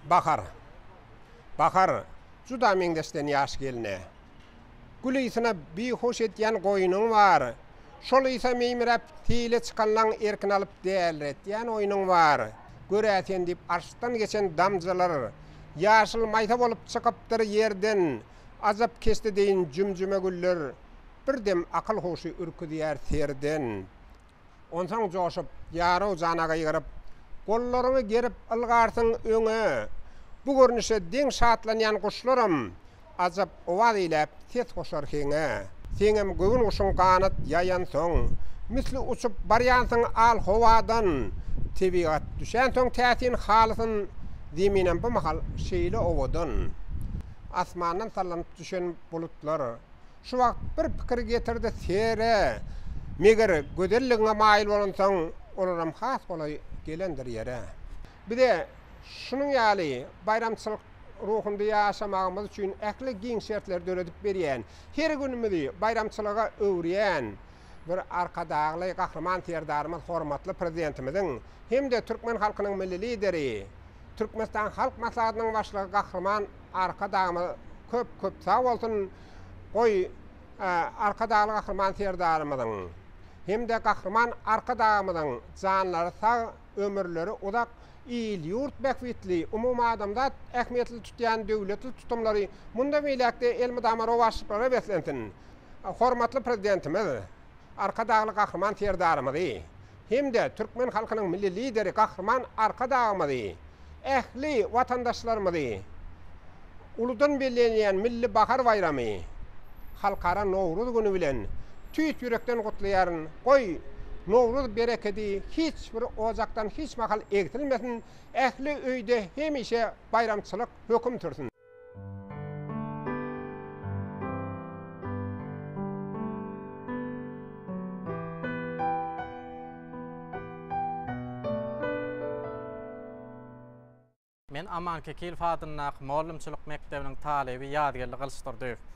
Bahar. Bahar, juda meňzeşden ýaş gelne. Gül ysyna bihuş edýän goýnuň bar. Şol ysa meýmiräp, seýle çykanlaň erkin alyp dälretýän oýnuň bar. Gör-ä sen diýip arşdan geçen damjalar ýaşyl maýsa bolup çykypdyr ýerden. Ajap keşde deýin jüm-jüme güller, bir dem akyl-huşy ürküzýär serden. Onsoň joşup, ýaraw jana gygyryp, gollaryňy gerip ylgarsyň öňe. Bu görnüşe deň şatlanýan guşlaram ajap owaz eýläp ses goşar heňe. Seňem göwün guşuň ganat ýaýansoň, misli uçup barýansyň al howadan. Tebigat düşänsoň täsin halysyn, zeminem bu mahal şeýle owadan. Asmandan sallanyp düşen bulutlar. Şu wagt bir pikir getirdi, Sere, meger, gözelligiňe maýyl bolansoň, olaram has golaý gelendir ýer-ä. Biz-ä şunuň ýaly baýramçylyk ruhunda ýaşamagymyz üçin ähli giň şertleri döredip berýän, her günümizi baýramçylyga öwürýän bir Arkadagly Gahryman Serdarymyz, hormatly Prezidentimiziň hem-de türkmen halkynyň Milli Lideri, Türkmenistan Halk Maslahatynyň Başlygy Gahryman Arkadagymyz köp-köp sag bolsun! Goý, Arkadagly Gahryman Serdarymyzyň hem-de Gahryman Arkadagymyzyň janlary sag, ömürleri uzak, il-ýurt bähbitli, umumadamzat ähmiýetli tutýan döwletli tutumlary mundan beýläk-de elmydama rowaçlyklara beslensin! Hormatly Prezidentimiz Arkadagly Gahryman Serdarymyzy hem-de türkmen halkynyň Milli Lideri Gahryman Arkadagymyzy, ähli watandaşlarymyzy uludan bellenilýän Milli bahar baýramy, Halkara Nowruz güni bilen tüýs ýürekden gutlaýaryn, goý, Nowruz berekedi hiç bir ojakdan hiç mahal egsilmesin, ähli öýde hemişe baýramçylyk höküm sürsün! Men Aman Kekilow adyndaky mugallymçylyk mekdebiniň talyby Ýazgeldi Gylyçdurdyýew.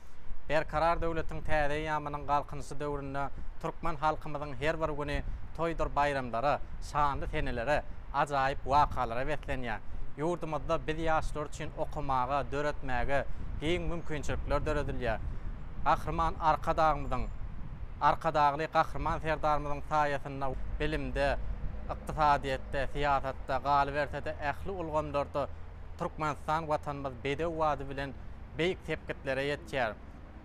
Berkarar döwletiň täze eýýamynyň Galkynyşy döwründe türkmen halkymyzyň her bir güni toýdur baýramlara, şanly senelere, ajaýyp wakalara beslenýär. Ýurdumyzda biz ýaşlar üçin okamaga, döretmäge giň mümkinçilikler döredilýär. Gahryman Arkadagymyzyň, Arkadagly Gahryman Serdarymyzyň saýasynda bilimde, ykdysadyýetde, syýasatda, galyberse-de ähli ulgamlarda Türkmenistan Watanymyz bedew bady bilen beýik sepgitlere ýetýär.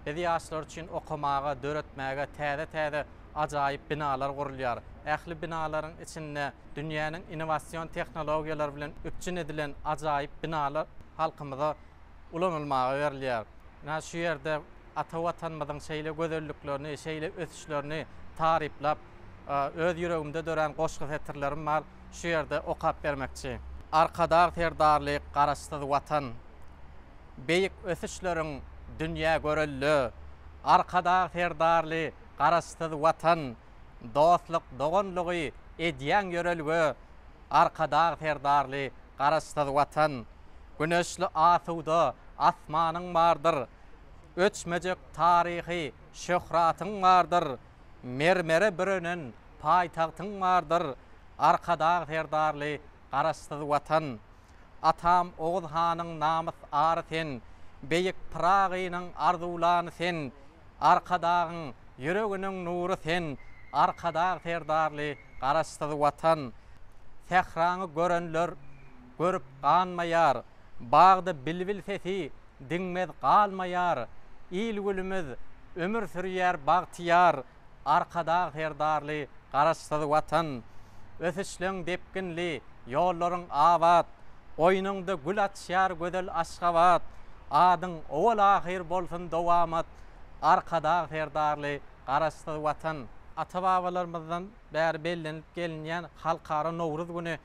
Biz ýaşlar üçin okamaga, döretmäge täze-täze ajaýyp binalar gurulýar. Ähli binalaryň içinde dünýäniň innowasion tehnologiýalary bilen üpjün edilen ajaýyp binalar halkymyza ulanylmaga berilýär. Ynha, şu ýerde ata Watanymyzyň şeýle gözelliklerini, şeýle ösüşlerini taryplap, öz ýüregimde dörän goşgy setirlerim bar. şu ýerde okap bermekçi. Arkadag Serdarly Garaşsyz Watan beýik ösüşleriň dünýä görelde Arkadag Serdarly Garaşsyz Watan dostluk doganlygy edýäň ýörelge Arkadag Serdarly Garaşsyz Watan Güneşli asuda asmanyň bardyr Öçmejek taryhy şöhratyň bardyr mermere bürenen paýtagtyň bardyr Arkadag Serdarly Garaşsyz Watan! Atam Oguz hanyň namys-ary sen, Beýik Pyragynyň arzuwlany sen, Arkadagyň ýüreginiň nury sen, Arkadag Serdarly Garaşsyz Watan! Sähraňy görenler görüp ganmaýar, Bagda bilbil sesi diňmez galmaýar, Il-gülümiz ömür sürýär bagtyýar, Arkadag Serdarly Garaşsyz Watan! Ösüşleň depginli, ýollaryň abat, Goýnuňda gül açýar gözel Aşgabat! Adyň owal-ahyr bolsun dowamat, Arkadag Serdarly Garaşsyz Watan! Ata-babalarymyzdan bäri bellenilip gelinýän Halkara Nowruz güni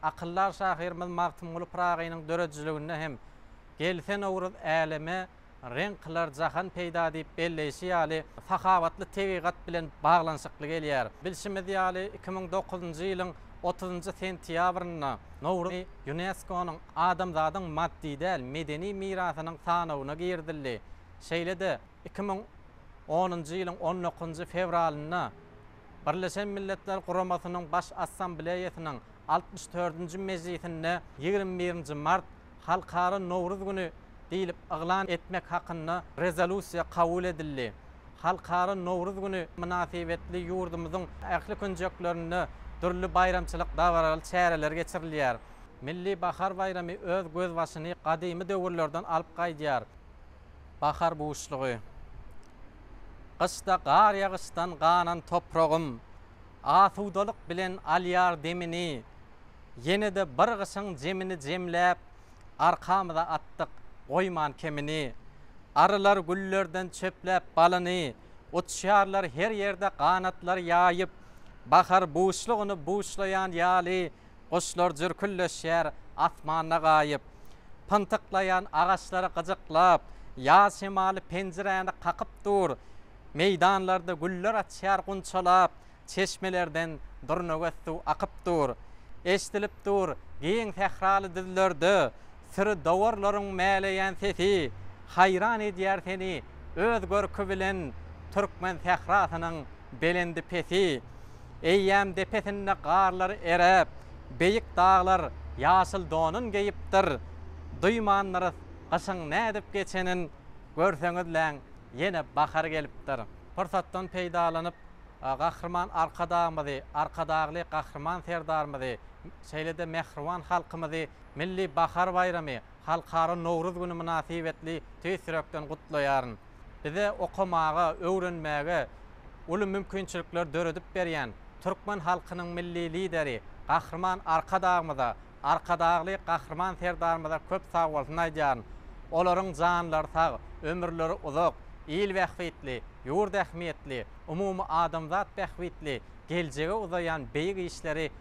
akyldar şahyrymyz Magtymguly Pyragynyň döredijiliginde hem Gelse Nowruz äleme reň kylar jahan peýda diýip belleýşi ýaly, sahawatly tebigat bilen baglanyşykly gelýär. Bilşimiz ýaly, iki müň dokuzynjy ýylyň otuzynjy sentýabrynda Nowruz Ýuneskonyň Adamzadyň maddy däl medeni mirasynyň sanawyna girizildi. Şeýle-de, Iki müň onunjy ýylyň on dokuzynjy fewralynda Birleşen Milletler Guramasynyň Baş Assambleýasynyň altmyş dördünji mejlisinde ýigrimi birinji mart Halkara Nowruz güni diýlip yglan etmek hakynda Rezolýusiýa kabul edildi. Halkara Nowruz güni mynasybetli ýurdumyzyň ähli künjeklerinde dürli baýramçylyk dabaraly çäreler geçirilýär. Milli bahar baýramy öz gözbaşyny gadymy döwürlerden alyp gaýdýar. Bahar buşlugy. Gyşda gar ýagyşdan ganan topragym asudalyk bilen alýar demini, Ýene-de bir gyşyň jemini jemläp, arkamyza atdyk goýman kemini. Arylar güllerden çöpläp balyny, uçýarlar her ýerde ganatlar ýaýyp, Bahar buşlugyny buşlaýan ýaly, Guşlar jürküldeşýär asmanda gaýyp. Pyntyklaýan agaçlary gyjyklap, ýaz şemaly penjiräni kakyp dur. Meýdanlarda güller açýar gunçalap, çeşmelerden durnagöz suw akyp dur. Eşdilip dur giň sähraly düzlerde, Syry dowarlaryň mäleýän sesi haýran edýär seni öz görki bilen türkmen sährasynyň belendi-pesi. Eýýäm depesinde garlar eräp, beýik daglar ýaşyl donun geýipdir. Duýmandyrys gyşyň nädip geçenin, görseňizläň, ýene bahar gelipdir. Pursatdan peýdalanyp, Gahryman Arkadagymyzy, Arkadagly Gahryman Serdarymyzy, şeýle-de mähriban halkymyzy, Milli bahar baýramy, Halkara Nowruz güni mynasybetli tüýs ýürekden gutlaýaryn. Bize okamaga, öwrenmäge uly mümkinçilikler döredip berýän türkmen halkynyň Milli Lideri Gahryman Arkadagymyza, Arkadagly Gahryman Serdarymyza köp sagbolsun aýdýaryn. Olaryň janlary sag, ömürleri uzak, il bähbitli, ýurt ähmiýetli, umumy adamzat bähbitli geljege uzaýan beýik işleri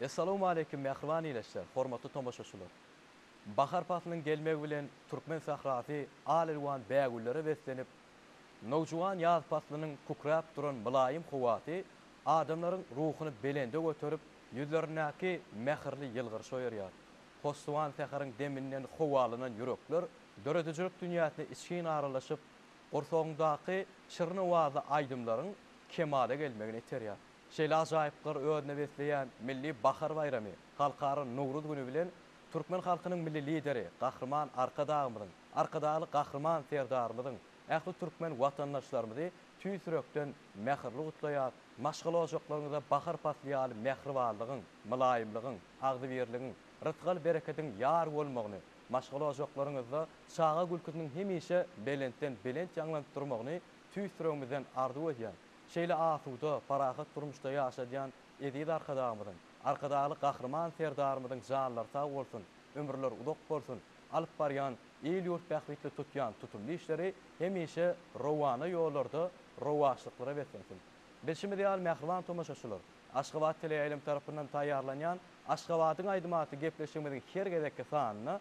Essalawmaleýkim mähriban ilesler, hormatly tomaşaçylar! Bahar paslynyň gelmegi bilen türkmen sährasy al-elwan bägüllere beslenip, nowjuwan ýaz paslynyň kükräp duran mylaýym howasy adamlaryň ruhuny belende göterip, ýüzlerindäki mähirli ýylgyryşy oýarýar. Hosswan säheriň deminden howalanan ýürekler döredijilik dünýäsine içgin aralaşyp, gursagyňdaky şirin owazly aýdymlaryň kemala gelmegine iterýär. Şeýle ajaýyplyklary özünde besleýän milli bahar baýramy, Halkara Nowruz güni bilen türkmen halkynyň Milli Lideri Gahryman Arkadagymyzyň, Arkadagly Gahryman Serdarymyzyň Ähli türkmen watandaşlarymyzy tüýs ýürekden mähirli gutlaýar, maşgala ojaklaryňyzda bahar pasly ýaly mähribanlygyň, mylaýymlygyň, agzybirligiň, rysgal-berekediň ýar bolmagyny, maşgala ojaklaryňyzda çaga gülküsiniň hemişe belentden belent ýaňlanyp durmagyny tüýs ýüregimizden arzuw edýän, şeýle asuda, parahat durmuşda ýaşadýan eziz Arkadagymyzyň, Arkadagly Gahryman Serdarymyzyň janlary sag bolsun, ömürleri uzak bolsun, alyp barýan Il-ýurt bähbitli tutýan tutumly işleri hemişe rowana ýollarda rowaçlyklara beslensin! Bilşimiz ýaly, mähriban tomaşaçylar, Aşgabat teleýaýlymy tarapyndan taýýarlanýan Aşgabadyň aýdymy atly gepleşigimiziň her gezekki sanynda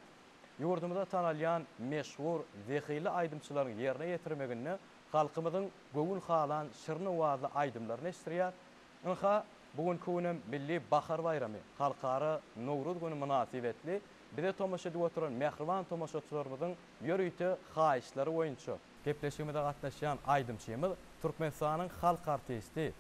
ýurdumyzda tanalýan meşhur, zehinli aýdymçylaryň ýerine ýetirmeginde halkymyzyň göwün halan şirin owazly aýdymlaryny eşitdirýär. Ynha, bu günki günem Milli bahar baýramy, Halkara Nowruz güni mynasybetli Bize tomaşa edip oturan mähriban tomaşaçylarymyzyň ýörite haýyşlary boýunça, gepleşigimize gatnaşýan aýdymçymyz Türkmenistanyň halk artisti,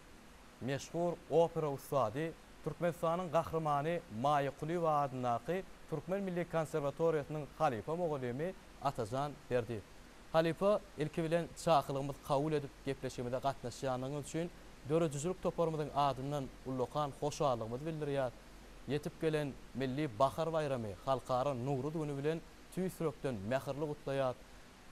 meşhur opera ussady, Türkmenistanyň Gahrymany Maýa Kulyýewa adyndaky Türkmen milli konserwatoriýasynyň halypa mugallymy Atajan Berdiýew. Halypa, ilki bilen çakylygymyzy kabul edip gepleşigimize gatnaşýandygyňyz üçin döredijilik toparymyzyň adyndan ullakan hoşallygymyzy bildirýäris. Ýetip gelen Milli bahar baýramy Halkara Nowruz güni bilen tüýs ýürekden mähirli gutlaýar.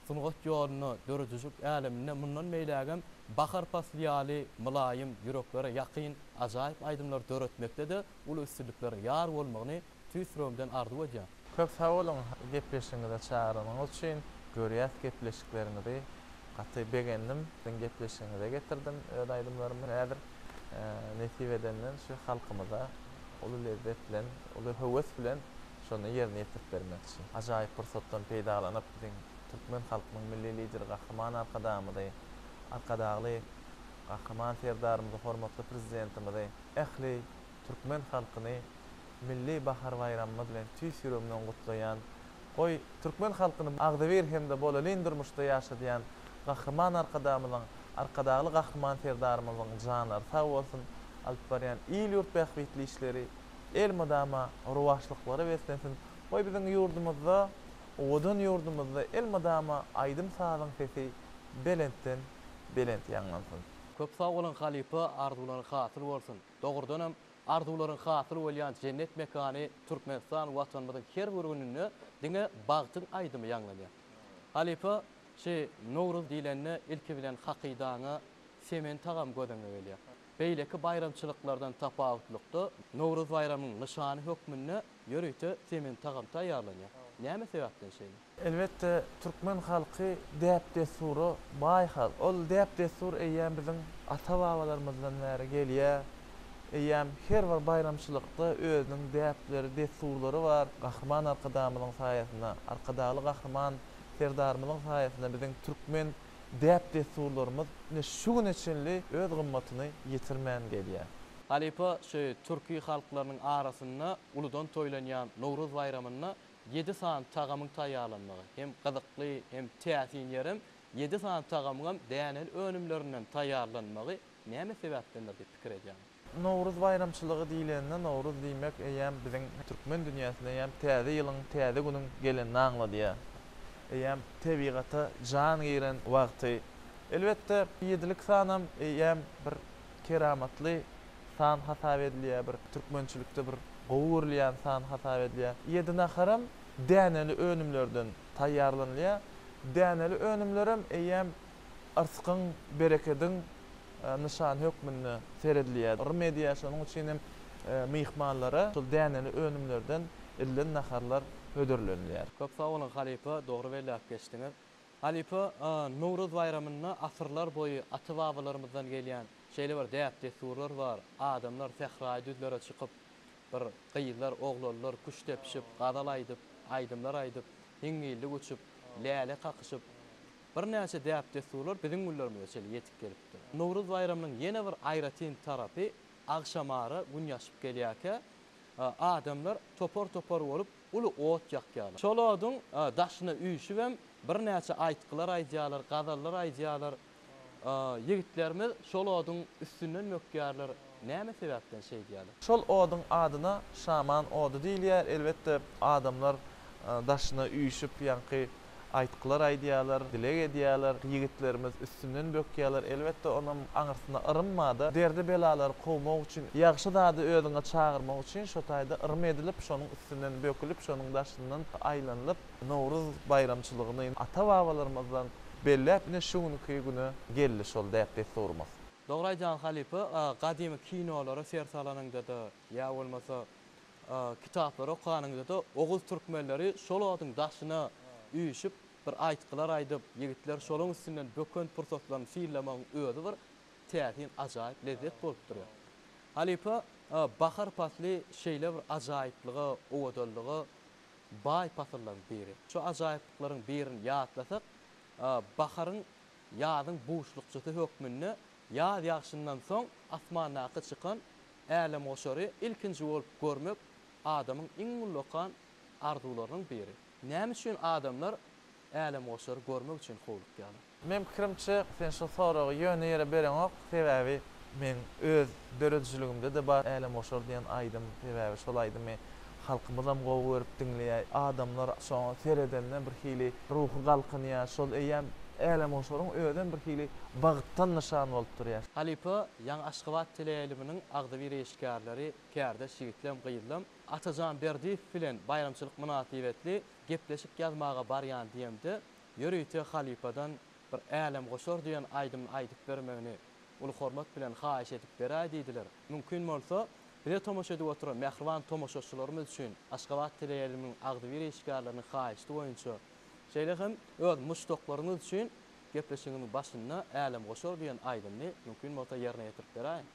Sungat ýolunda, döredijilik äleminde mundan beýlägem bahar pasly ýaly mylaýym, ýüreklere ýakyn, ajaýyp aýdymlar döretmekde-de uly üstünliklere ýar bolmagyny tüýs ýüregimden arzuw edýän. Köp sag boluň gepleşigiňize çagyranyňyz üçin, görýäs gepleşikleriňizi gaty begendim, siziň gepleşigiňize getirdim öz aýdymlarymy häzir, nesip edenden şu halkymyza uly lezzet bilen, uly höwes bilen şony ýerine ýetirip bermekçi. Ajaýyp pursatdan peýdalanyp biziň Türkmen halkynyň Milli Lideri Gahryman Arkadagymyzy, Arkadagly Gahryman Serdarymyzy, Hormatly Prezidentimizi, ähli türkmen halkyny Milli bahar baýramymyz bilen tüýs ýüregimden gutlaýan, goý, türkmen halkyny agzybir hem-de bolelin durmuşda ýaşadýan Gahryman Arkadagymyzyň, Arkadagly Gahryman Serdarymyzyň janlary sag bolsun, alyp barýan il-ýurt bähbitli işleri elmydama rowaçlyklara beslensin, goý, biziň ýurdumyzda, owadan ýurdumyzda elmydama aýdym-sazyň sesi belentden belent ýaňlansyn! Köp sag boluň halypa arzuwlaryň hasyl bolsun. Dogrudanam, arzuwlaryň hasyl bolýan jennet mekany Türkmenistan Watanymyzyň her bir gününde diňe bagtyň aýdymy ýaňlanýar. Halypa, şi Nowruz diýlende ilki bilen hakydaňa semen tagamy gözüňe gelýär. Beýleki baýramçylyklardan tapawutlykda, Nowruz baýramyň nyşany hökmünde ýörite semen tagam taýýarlanýar. Näme sebäpden şeýle? Elbetde, türkmen halky däp-dessura baý halk. Ol däp-dessur eýýäm biziň ata-babalarymyzdan bäri gelýär. Eýýäm her bir baýramçylykda özüniň däpleri, dessurlary bar. Gahryman Arkadagymyzyň saýasynda, Arkadagly Gahryman Serdarymyzyň saýasynda biziň türkmen däp-dessurlarymyz ine şu güne çenli öz gymmatyny ýitirmän gelýär. Halypa şu türki halklarynyň arasynda uludan toýlanýan Nowruz baýramynda Ýedi sany tagamyň taýýarlanmagy hem gyzykly, hem täsin ýerem, ýedi sany tagamyňam däneli önümlerinden taýýarlanmagy näme sebäpdendir diýip pikir edýärin. Nowruz baýramçylygy diýlende, nowruz diýmek eýýäm biziň türkmen dünýäsinde eýýäm täze ýylyň, täze günüň gelenini aňladýar. Eýýäm tebigata jan giren wagty. Elbetde, ýedilik sanam eýýäm bir keramatly san hasap edilýär, bir türkmençilikde bir gowy görülýän san hasap edilýär. Ýedi naharam däneli önümlerden taýýarlanylýar. Däneli önümlerem eýýäm yrskyň, berekediň nyşany hökmünde seredilýär. Rym edýär, şonuň üçin hem myhmanlara şol däneli önümlerden edilen naharlar hödürlenilýär. Köp sag boluň halypa, dogry belläp geçdiňiz. Halypa Nowruz baýramynda asyrlar boýy ata-babalarymyzdan gelýän şeýle bir däp-dessurlar bar, adamlar sähraýy düzlere çykyp, bir gyzlar, oglanlar küşt depişip, gazal aýdyp, aýdymlar aýdyp, hiňňillik uçup, läle kakyşyp, birnäçe däp-dessurlar biziň günlerimize çenli ýetip gelipdir. Nowruz baýramynyň ýene bir aýratyn tarapy, agşamara gün ýaşyp gelýärkä, adamlar topar-topar bolup, Uly ot ýakýarlar. Şol oduň daşyna üýşübem birnäçe aýtgylar aýdýarlar, gazallar aýdýarlar. Ýigitlerimiz şol oduň üstünden bökýärler. Näme sebäpden şeýdýärler? Şol oduň adyna şaman ody diýilýär. Elbetde, adamlar daşyna üýşüp, ýaňky aýtgylar aýdýarlar, dileg edýärler, ýigitlerimiz üstünden bökýärler, elbetde onam aňyrsyna yrym barda, derdi-belalary kowmak üçin, ýagşy zady özüňe çagyrmak üçin şo taýda yrym edilip, şonuň üstünden bökülip, şonuň daşyndan aýlanylyp, Nowruz baýramçylygyny ata-babalarymyzdan belläp, ine şu günki güne geldi şol däp-dessurymyz. Dogry aýdýaň halypa, gadymy kinolara ser salanyňda-da, ýa bolmasa Kitaplary okanyňyzda-da oguz türkmenleri şol oduň daşyna üýşüp, bir aýtgylar aýdyp, ýigitler şoluň üstünden böken pursatlaryny sylamagyň özi bir täsin, ajaýyp lezzet bolup durýar. Halypa, bahar pasly şeýle bir ajaýyplyga, owadanlyga baý pasyllaryň biri. Şu ajaýyplyklaryň birini ýatlasak, baharyň ýazyň buşlukçysy hökmünde ýaz ýagşyndan soň asmandaky çykan Älemgoşary ilkinji bolup görmek adamyň iň ullakan arzuwlarynyň biri. Näme üçin adamlar Älemgoşary görmek üçin howlukýarlar? Meň pikirimçe, sen şu soragy ýöne ýere bereňok, sebäbi meň öz döredijiligimde-de bar Älemgoşar diýen aýdym, sebäbi şol aýdymy halkymyzam gowy görüp diňleýär, adamlar şoňa seredende bir hili ruhy galkynýar, şol eýýäm Älemgoşaryň özem bir hili bagtdan nyşan bolup durýar. Halypa Ýaňy Aşgabat teleýaýlymynyň agzybir işgärleri, kärdeş ýigitleem, gyzlam, Atajan Berdiýew bilen baýramçylyk mynasybetli gepleşik ýazmaga barýan diýemde, ýörite halypadan bir Älemgoşar diýen aýdymyny aýdyp bermegini uly hormat bilen haýyş edip beräý diýdiler. Mümkin bolsa, bize tomaşa edip oturan mähriban tomaşaçylarymyz üçin Aşgabat teleýaýlymynyň agzybir işgärleriniň haýyşdy boýunça, şeýle hem öz muşdaklaryňyz üçin Gepleşigiň başynda Älem goşar diýen aýdymny mümkin bolsa ýerine ýetirip beräýiň.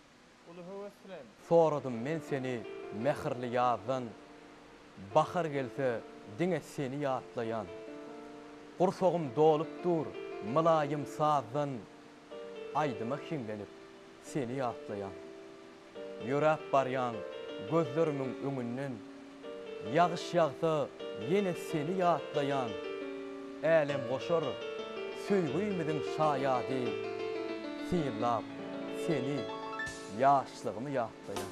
Uly höwes bilen. Soradym men seni mähirli ýazdan, Bahar gelse, diňe seni ýatlaýan. Gursagym dolup dur mylaýym sazdan, Aýdyma hiňlenip, seni ýatlaýan. Ýöräp barýan gözlerimiň öňünden, Ýagyş ýagsa ýene seni ýatlaýan, Älemgoşar söýgümiziň şaýady, Synlap seni ýaşlygymy ýatlaýan.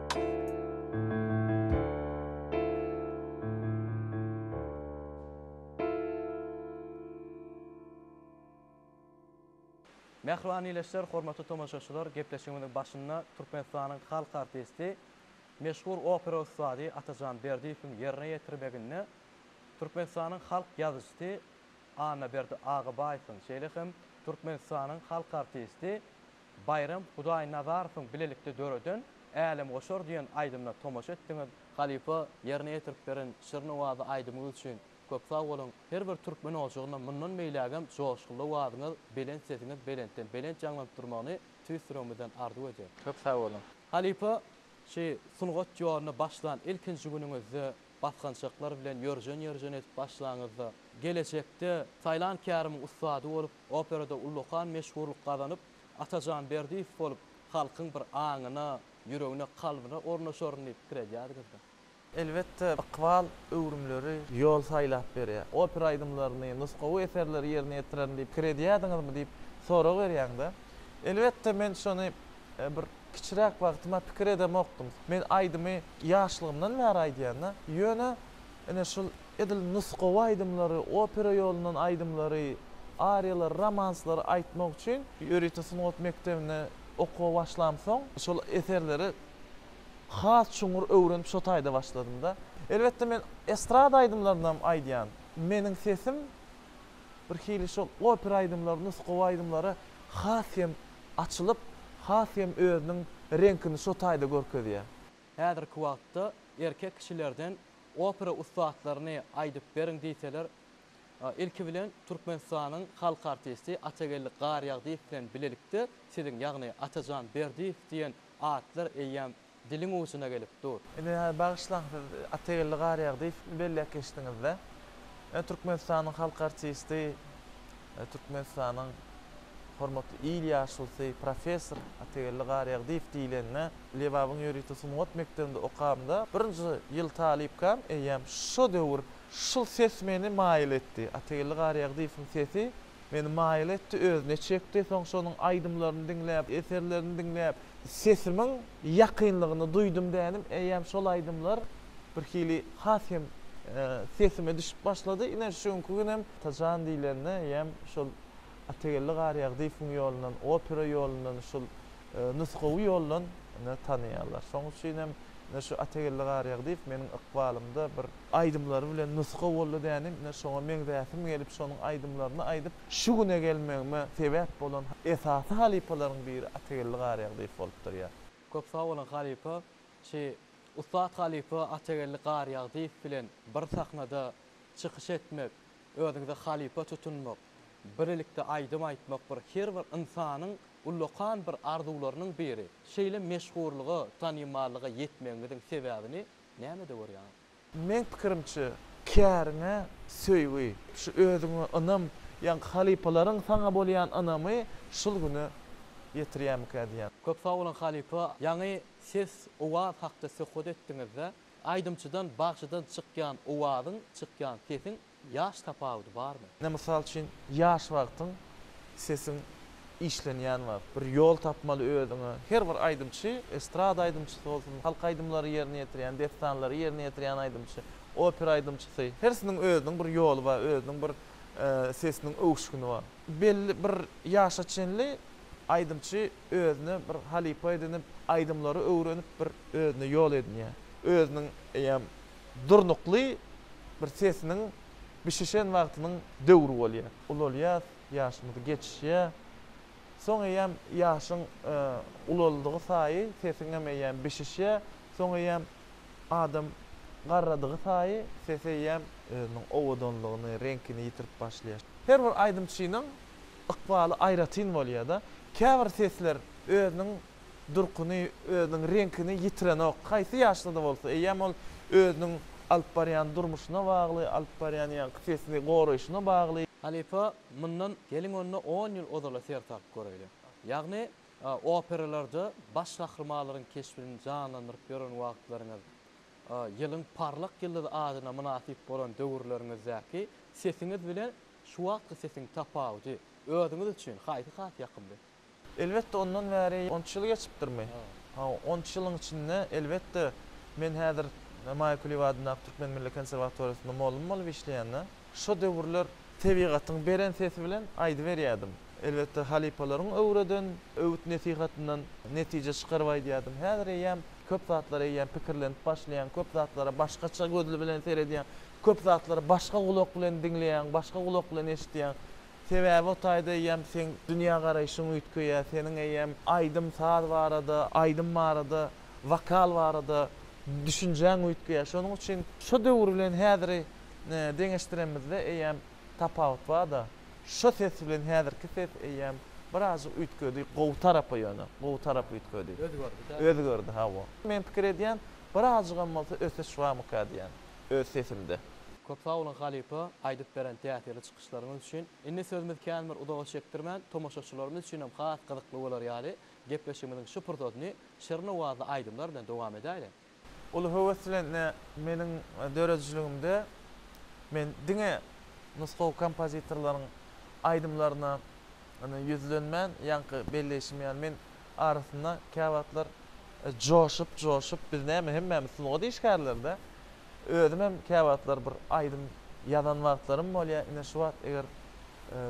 Mähriban ildeşler, hormatly tomaşaçylar, gepleşigimiziň başynda Türkmenistanyň halk artisti, meşhur opera ussady Atajan Berdiýewiň ýerine ýetirmeginde Türkmenistanyň halk ýazyjysy Annaberdi Agabaýewiň, şeýle hem Türkmenistanyň halk artisti, Baýram Hudaýnazarowyň bilelikde döreden Älemgoşar diýen aýdymyna tomaşa etdiňiz. Halypa ýerine ýetirip beren şirin owazy aýdymyňyz üçin köp sag boluň. Her bir türkmen ojagyna mundan beýlägem joşgunly owazyňyz, belent sesiňiz belentden belent ýaňlanyp durmagyny tüýs ýüregimizden arzuw edýän. Köp sag boluň. Halypa, şu sungat ýoluna başlan ilkinji günüňizde Basgançaklar bilen ýörjen-ýörjen edip başlaňyzda, gelejekde Saýlan Kärimiň ussady bolup, operada ullakan meşhurlyk gazanyp, Atajan Berdiýew bolup, halkyň bir aňyna, ýüregine, kalbyna ornaşaryn diýip pikir edýärdiňizmi? Elbetde, ykbal öwrümleri ýol saýlap berýär. Opera aýdymlaryny, nusgawy eserleri ýerine ýetirerin diýip pikir edýärdiňizmi diýip sorag berýäň-de, elbetde, men şony Bir kiçiräk wagtyma pikir edemokdym. Men aýdymy ýaşlygymdan bäri aýdýan-da. Ýöne, ine, şul edil nusgawy aýdymlary, opera ýolundan aýdymlary, ariýalary, romanslary aýtmak üçin ýörite sungat mekdebinde okuwa başlamsoň, şol eserleri has çuňňur öwrenip, şo taýda başladym-da. Elbetde, men estrada aýdymlarynam aýdýan. Meniň sesim birhili şol opera aýdymlary, nusgawy aýdymlara has hem açylyp, has hem özüniň reňkini şo taýda görkezýär. Häzirki wagtda erkek kişilerden opera ussatlaryny aýdyp beriň diýseler, ilki bilen Türkmenistanyň halk artisti Atageldi Garýagdyýew bilen bilelikde siziň, ýagny Atajan Berdiýew diýen atlar eýýäm diliň uçuna gelip dur. Ine hä bagyşlaň siz Atageldi Garýagy diýip belläp geçdiňizde. Ine Türkmenistanyň halk artisti, Türkmenistanyň hormatly il ýaşulysy, professor Atageldi Garýagy diýip diýlende, Lebabyň ýörite sungat mekdebinde okamda birinji ýyl talypkam eýýäm şo döwür şul ses meni maýyl etdi. Atageldi Garýagyýewiň sesi Meni maýyl etdi, özüne çekdi. Soň şonuň aýdymlaryny diňläp, eserlerini diňläp. Sesimiň ýakynlygyny duýdum dänim. Eýýäm şol aýdymlar birhili has hem sesime düşüp başlady. Ine, şu günki günem Atajan diýlende eýýäm şol Atageldi Garýagdyýewiň ýolundan, opera ýolundan şul nusgawy ýoldan ine tanaýarlar. Şoň üçin hem ine şu Atageldi Garýagdyýew meniň ykbalymda bir aýdymlary bilen nusga boldy dänim, ine şoňa meňzäsim gelip şonuň aýdymlaryny aýdyp şu güne gelmegime sebäp bolan esasy halypalaryň biri Atageldi Garýagdyýew bolup durýar. Köp sag boluň halypa, şi ussat halypa Atageldi Garýagdyýew bilen bir sahnada çykyş etmek, özüňize halypa tutunmak, Birlikde aýdym aýtmak bir her bir ynsanyň ullakan bir arzuwlarynyň biri. Şeýle meşhurlyga, tanymallyga ýetmegiňiziň sebäbini nämede görýäňiz? Meň pikirimçe, käriňe söýgi, şu özüňe ynam, ýaňky halypalaryň saňa bolýan ynamy şul güne ýetirýärmikä diýýän. Köp sag boluň halypa, ýaňy ses, owaz hakda söhbet etdiňizde, aýdymçydan, bagşydan çykýan owazyň, çykýan sesiň Ýaş tapawudy barmy? Ine mysal üçin ýaş wagtyň sesiň işlenýän wagt bir ýol tapmaly özüňe her bir aýdymçy estrada aýdymçysy bolsun halk aýdymlary ýerine ýetirýän dessanlary ýerine ýetirýän aýdymçy opera aýdymçysy hersiniň özüniň bir ýoly bar özüniň bir sesiniň öwüşgini bar belli bir ýaşa çenli aýdymçy özüne bir halypa edinip aýdymlary öwrenip bir özüne ýol edinýär özüniň eýýäm Durnukly bir sesiniň bişişen wagtynyň döwri bolýar. Ulalýas, ýaşymyz geçýär. Soň eýýäm ýaşyň ulaldygy saýy sesiňem eýýäm bişişýär. Soň eýýäm adam garradygy saýy sesi eýýäm özüniň owadanlygyny, reňkini ýitirip başlaýar. Her bir aýdymçynyň ykbaly aýratyn bolýar-da. Käbir sesler özüniň durkuny, özüniň reňkini ýitirenok. Haýsy ýaşda-da bolsa, eýýäm ol özüniň alyp barýan durmuşyna bagly, alyp barýan ýaňky sesini goraýşyna bagly. Halypa, mundan geliň onda on ýyl ozala ser salyp göräýliň. Ýagny, operalarda baş gahrymalaryň keşbini janlandyryp ýören wagtlaryňyz, ýylyň parlak ýyldyzy adyna mynasyp bolan döwürleriňizdäki sesiňiz bilen şu wagtky sesiň tapawudy özüňiz üçin haýsy has ýakymly? Elbetde, ondan bäri on üç ýyl geçipdirmi? Ha, on üç ýylyň içinde, elbetde, men häzir Maýa Kuliýewa adyndaky Türkmen milli konserwatoriýasynda mugallym bolup işleýän-de, şo döwürler tebigatyň beren sesi bilen aýdyberýärdim. Elbetde, halypalaryň öwreden öwüt-nesihatyndan netije çykaryp aýdýardym. Häzir eýýäm köp zatlar eýýäm pikirlenip başlaýaň, köp zatlara başgaça göz bilen seredýäň, köp zatlary başga gulak bilen diňleýäň, başga gulak bilen eşidýäň. Sebäbi o taýda eýýäm seň dünýägaraýşyň üýtgeýär, seniň eýýäm aýdym-saz barada, aýdym barada, wokal barada düşünjäň üýtgeýär. Şonuň üçin şo döwür bilen häziri deňeşdiremizde eýýäm tapawut bar-da. Şo ses bilen häzirki ses eýýäm birazjyk üýtgedi, gowy tarapa ýöne, gowy tarapa üýtgedi. Özgerdi-dä. Özgerdi, hawa. Men pikir edýän, birazjygam bolsa ösüş barmyka diýýän öz sesimde. Köp sag boluň halypa aýdyp beren täsirli çykyşyňyz üçin. Başlaryňyz üçin indi sözümiz kän bir uzaga çekdirmän, tomaşaçylarymyz üçinem has gyzykly bolar ýaly gepleşigimiziň şu pursatyny şirin owazly aýdymlar bilen dowam edäýeliň. Uly höwes bilen ine meniň döredijiligimde men diňe nusgawy kompozitorlaryň aýdymlaryna ine ýüzlenmän, ýaňky belleýşim ýaly men arasynda käwagtlar joşup-joşup, biz näme, hemmämiz sungat işgärleri-dä. Özümem käwagtlar bir aýdym ýazan wagtlarym bolýar. Ine, şu wagt eger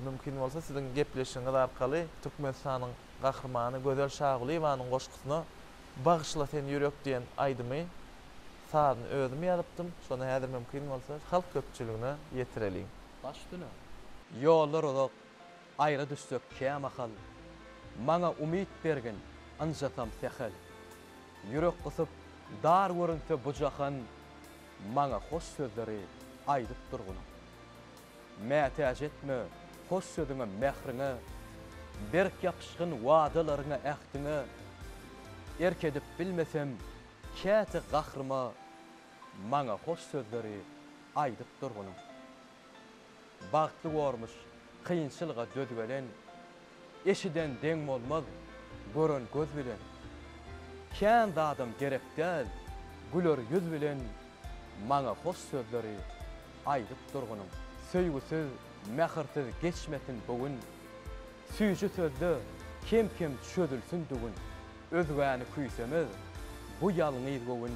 mümkin bolsa, siziň gepleşigiňiz arkaly Türkmenistanyň Gahrymany Gözel Şagulyýewanyň goşgusyna Bagyşla sen ýürek diýen aýdymy, sazyny özüm ýazypdym. Şony häzir mümkin bolsa, halk köpçüligine ýetireliň. Baş üstüne. Ýollar uzak. Aýra düşsek kämahal. Maňa umyt bergin, ynjasam sähel. Ýürek gysyp, dar görünse bu jahan, Maňa hoş sözleri aýdyp durgun. Mätäç etme hoş sözüňe, mähriňe, Berk ýapyşgyn wadalaryňa, ähtiňe. Erk edip bilmesem, käte gahryma, Maňa hoş sözleri aýdyp durgun. Bagtly gormuş, kynçylga döz gelen, Eşiden deň bolmaz, gören göz bilen. Kän zadam gerek däl, güler ýüz bilen Maňa hoş sözleri aýdyp durgynyň. Söýgüsiz, mähirsiz geçmesin bu gün, Süýji sözde kem-kem çözülsin düwün. Özgäni küýsemez bu ýalňyz göwün,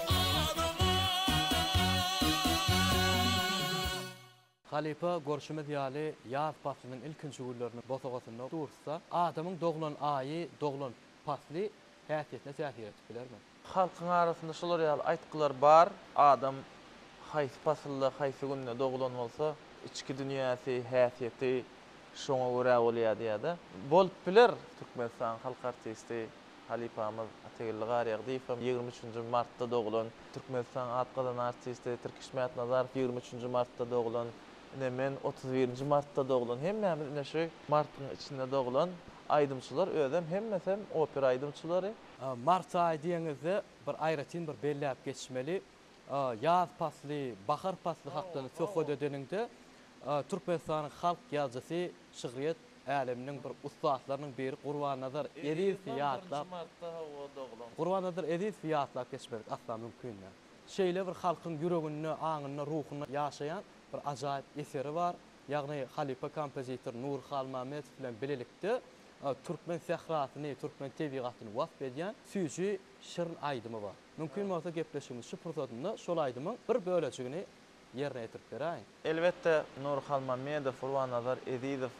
Halypa görşümiz ýaly ýaz paslynyň ilkinji günleriniň bosagasynda dursa, adamyň doglan aýy, doglan pasly häsiýetine täsir edip bilermi? Halkyň arasynda şular ýaly aýtgylar bar, Adam haýsy pasylda, haýsy günde doglan bolsa, içki dünýäsi, häsiýeti şoňa görä bolýar diýýär-de. Bolup biler, Türkmenistanyň halk artisti Halypamyz Ategilli Garýagdyýew hem ýigrimi üçünji martda doglan. Türkmenistanyň at gazanan artisti Tirkiş Mätnazarow ýigrimi üçünji martda doglan. Ine men otuz birinji martda doglan. Hemmämiz ine şu martyň içinde doglan aýdymçylar özem hemmesem opera aýdymçylary. Mart aýy diýeňizde bir aýratyn bir belläp geçmeli. Ýaz pasly, bahar pasly hakda söhbet edeniňde Türkmenistanyň halk ýazyjysy, şygryýet Äleminiň bir ussatlarynyň biri Gurbannazar Ezizowy ýatlap, Gurbannazar Ezizowy ýatlap geçmedik asla mümkin däl. Şeýle bir halkyň ýüreginde, aňynda, ruhunda ýaşaýan bir ajaýyp eseri bar. Ýagny halypa kompozitor Nury Halmämmedow bilen bilelikde türkmen sährasyny, türkmen tebigatyny wasp edýän süýji şirin aýdymy bar. Mümkin bolsa gepleşigimiziň şu pursatynda şol aýdymyň bir bölejigini ýerine ýetirip beräýiň. Elbetde, Nury Halmamedow, Gurbanazar Ezizow,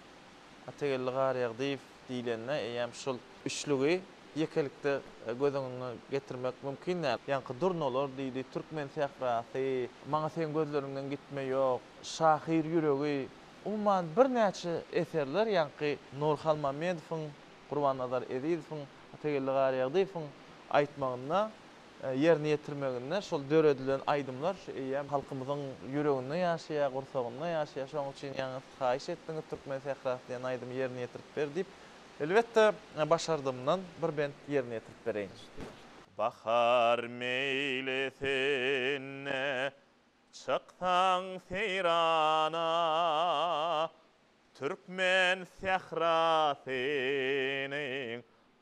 Atageldi Garýagdyýew diýlende, eýýäm şul üçlügi ýekelikde göz öňüňe getirmek mümkin däl. Ýaňky durnalar diýdi, Türkmen sährasy, Maňa seň gözleriňden gitme ýok, Şahyr ýüregi, umuman birnäçe eserler ýaňky Nury Halmamedowyň, Gurbanazar Ezizowyň, Atageldi Garýagdyýewiň aýtmagynda ýerine ýetirmeginde şol döredilen aýdymlar eýýäm halkymyzyň ýüreginde ýaşaýar, gursagynda ýaşaýar. Şonuň üçin ýaňy siz haýyş etdiňiz Türkmen sährasy diýen aýdymy ýerine ýetirip ber diýip. Elbetde, başardymdan bir bent ýerine ýetirip bereýin. Bahar meýlisine çyksaň seýrana, Türkmen sährasynyň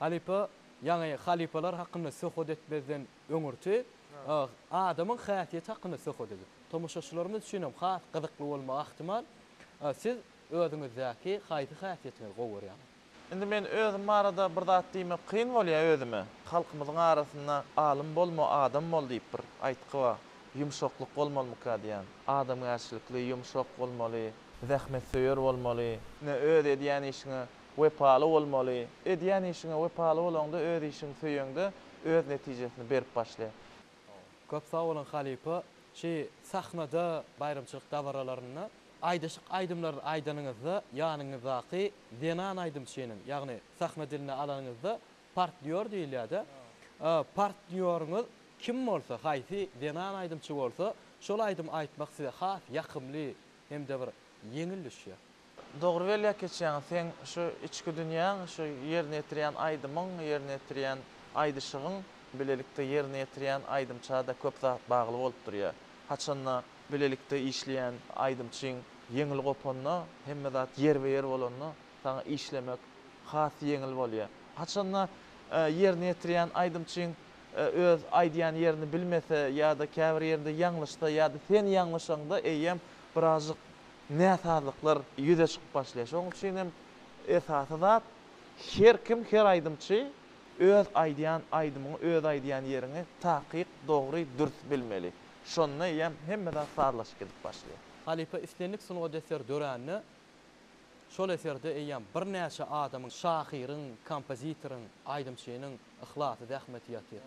Halypa ýaňy halypalar hakynda söhbet etmezden öňürti adamyň häsiýeti hakynda söhbet edip, tomaşaçylarymyz üçin hem has gyzykly bolmagy ahtimal. Siz özüňizdäki haýsy häsiýetiňizi gowy görýäňiz? Indi men özüm barada bir zat diýmek kyn bolýar özüme. Halkymyzyň arasynda Alym bolma, adam bol diýip bir aýtgy bar. Ýumşaklyk bolmalymyka diýýän. Adamgärçilikli, ýumşak bolmaly, zähmetsöýer bolmaly. Öz edýän işiňe Wepaly bolmaly. Edýän işiňe wepaly bolaňda öz işiňi söýeňde öz netijesini berip başlaýar. Köp sag boluň halypa şi sahnada baýramçylyk dabaralarynda aýdyşyk aýdymlaryny aýdanyňyzda ýanyňyzdaky zenan aýdymçynyň ýagny sahna diline alanyňyzda partnýor diýilýärde partnýoryňyz kim bolsa haýsy zenan aýdymçy bolsa şol aýdym aýtmak size has ýakymly hemde bir ýeňil düşýär. Dogry belläp geçýäňiz seň şu içki dünýäň şu ýerine ýetirýän aýdymyň ýerine ýetirýän aýdyşygyň bilelikde ýerine ýetirýän aýdymçada köp zat bagly bolup durýa haçanda bilelikde işleýän aýdymçyň ýeňil gopanda hemme zat ýerbe ýer bolanda saňa işlemek has ýeňil bolýa haçanda ýerine ýetirýän aýdymçyň öz aýdýan ýerini bilmese ýada käbir ýerinde ýaňlyşsa ýada sen ýaňlyşaňda eýýäm birazjyk näsazlyklar ýüze çykyp başlaýar. Şonuň üçin hem esasy zat her kim, her aýdymçy öz aýdýan aýdymyňy, öz aýdýan ýeriňi takyk, dogry, dürs bilmeli. Şonda eýýäm hemme zat sazlaşyp gidip başlaýar. Halypa islendik sungat eseri dörände, şol eserde eýýäm birnäçe adamyň, şahyryň, kompozitoryň, aýdymçynyň yhlasy, zähmeti ýatyr.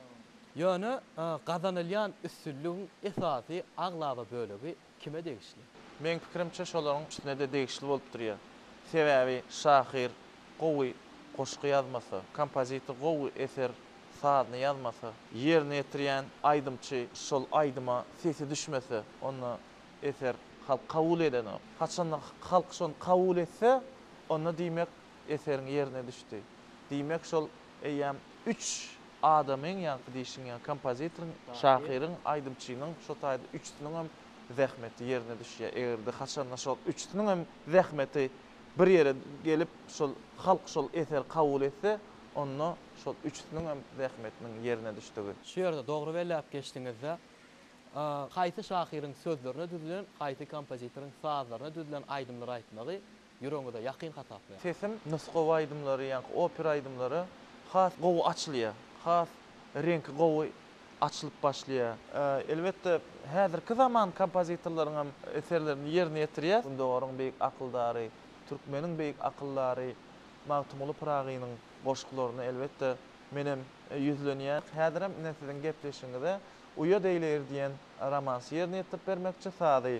Ýöne gazanylýan üstünligiň esasy, aglaba bölegi kime degişli? Meň pikirimçe şolaryň üçüsine-de degişli bolup durýa. Sebäbi şahyr gowy goşgy ýazmasa, kompozitor gowy eser sazyny ýazmasa, ýerine ýetirýän aýdymçy şol aýdyma sesi düşmese, onda eser halk kabul edenok. Haçanda halk şony kabul etse, onda diýmek eseriň ýerine düşdi. Diýmek şol eýýäm üç adamyň, ýaňky diýşiň ýaly, kompozitoryň, şahyryň, aýdymçynyň, şo taýda üçüsiniň hem zähmeti ýerine düşýär. Eger-de haçanda şol üçüsiniň hem zähmeti bir ýere gelip, şol halk şol eseri kabul etse, onda şol üçüsiniň hem zähmetiniň ýerine düşdügi. Şu ýerde dogry belläp geçdiňiz-de. Haýsy şahyryň sözlerine düzülen, haýsy kompozitoryň sazlaryna düzülen aýdymlary aýtmagy Ýüregiňize ýakyn hasaplaýar. Sesim nusgawy aýdymlara, ýaňky opera aýdymlara has gowy açylýar. Has reňki gowy açylyp başlaýar. Elbetde, häzirki zaman kompozitorlaryň hem eserlerini ýerine ýetirýäs. Gündogaryň beýik akyldary, türkmeniň beýik akyldary Magtymguly Pyragynyň goşgularyna, elbetde, menem ýüzlenýän. Häzir hem ine siziň gepleşigiňize Uýa deýleýir diýen romansy ýerine ýetirip bermekçi, sazy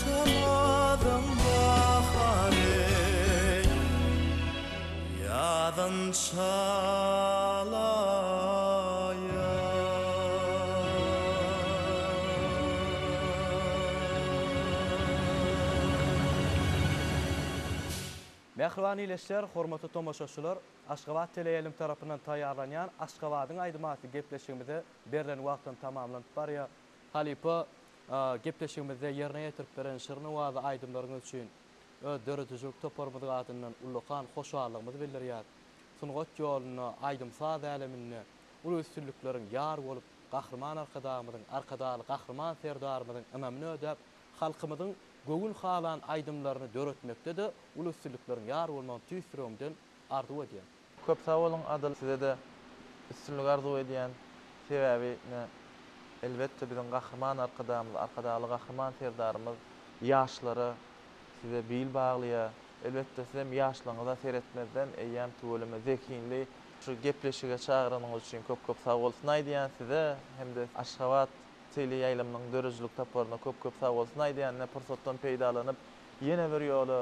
Sanadyň bahar ey, ýazyn çalaýar. Mähriban ildeşler, hormatly tomaşaçylar, Aşgabat teleýaýlym tarapyndan taýýarlanýan Aşgabadyň aýdym atly gepleşigimize berlen wagtam tamamlanyp barýar. Halypa, gepleşigimizde ýerine ýetirip beren şirin-owazy aýdymlaryňyz üçin öz döredijilik toparymyz adyndan ullakan hoşallygymyzy bildirýäris. Sungat ýolunda, aýdym-saz äleminde uly üstünlikleriň ýar bolup, Gahryman Arkadagymyzyň, Arkadagly Gahryman Serdarymyzyň ynamyny ödäp, halkymyzyň göwün halan aýdymlaryny döretmekde-de uly üstünlikleriň ýar bolmagyny tüýs ýüregimden arzuw edýän. Köp sag boluň Adyl sizede üstünlik arzuw edýän sebäbi ne elbetde biziň Gahryman Arkadagymyz Arkadagly Gahryman Serdarymyz ýaşlara size bil baglaýa elbetde sizem ýaşlygyňyza seretmezden eýýäm tüweleme zehinli şu gepleşige çagyranyňyz üçin köp köp sag bolsun aýdýan size hemde Aşgabat tele ýaýlymynyň döredijilik toparyna köp köp sag bolsun aýdýan ine pursatdan peýdalanyp ýene bir ýola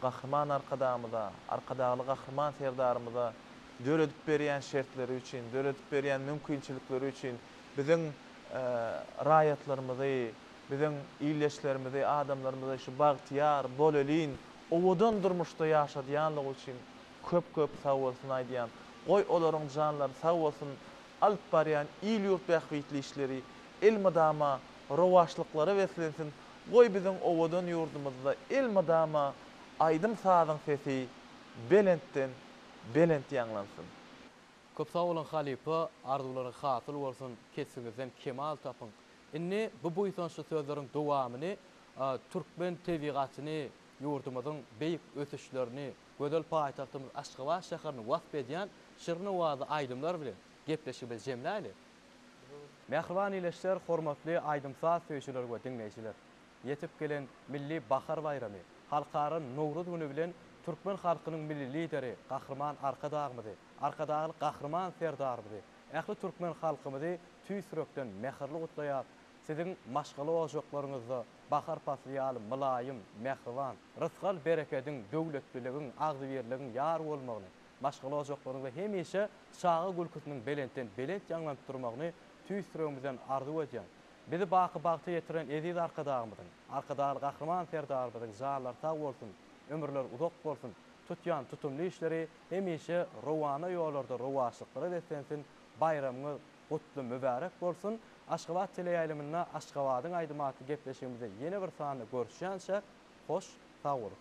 Gahryman Arkadagymyza, Arkadagly Gahryman Serdarymyza döredip berýän şertleri üçin, döredip berýän mümkinçilikleri üçin, biziň raýatlarymyzy, biziň ildeşlerimizi, adamlarymyzy şu bagtyýar, bolelin, owadan durmuşda ýaşadýanlygy üçin köp-köp sag bolsun aýdýan. Goý, olaryň janlary sag bolsun, alyp barýan il-ýurt bähbitli işleri elmydama rowaçlyklara beslensin, Goý biziň owadan ýurdumyzda elmydama aýdym-sazyň sesi belentden belent ýaňlansyn. Köp sag boluň halypa, arzuwlaryň hasyl bolsun, kesbiňizden kemal tapyň. Indi bu buýsançly sözleriň dowamyny türkmen tebigatyny, ýurdumyzyň beýik ösüşlerini, gözel paýtagtymyz Aşgabat şäherini wasp edýän şirin owazy aýdymlar bilen gepleşigimizi jemläýli. Mähriban ildeşler, hormatly aýdym-saz söýüjiler we diňleýjiler! Ýetip gelen Milli bahar baýramy, Halkara Nowruz güni bilen türkmen halkynyň Milli Lideri Gahryman Arkadagymyzy, Arkadagly Gahryman Serdarymyzy, ähli türkmen halkymyzy tüýs ýürekden mähirli gutlaýar, siziň maşgala ojaklaryňyzda bahar pasly ýaly mylaýym, mähriban, rysgal-berekediň, döwletliligiň, agzybirligiň ýar bolmagyny, maşgala ojaklaryň we hemişe çaga gülküsiniň belentden belent ýaňlanyp durmagyny tüýs ýüregimizden arzuw edýän, bizi baky bagta ýetiren eziz Arkadagymyzyň, Arkadagly Gahryman Serdarymyzyň janlary sag bolsun, ömürleri uzak bolsun, tutýan tutumly işleri hemişe rowana ýollarda rowaçlyklara beslensin, baýramyňyz gutly mübärek bolsun, Aşgabat teleýaýlymynda Aşgabadyň aýdym atly gepleşigimizde ýene bir sanda görüşýänçäk, hoş sag boluň!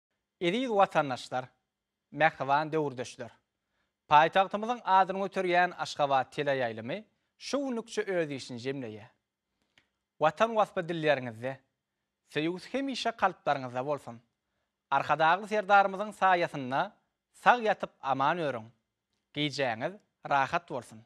Eziz watandaşlar, mähriban döwürdeşler! Paýtagtymyzyň adyny göterýän Aşgabat teleýaýlymy şu günlükçe öz işini jemleýär. Watan waspy dilleriňizde, söýgüsi hemişe kalplaryňyzda bolsun! Arkadagly Serdarymyzyň saýasynda sag ýatyp aman örüň! Gijäňiz rahat bolsun!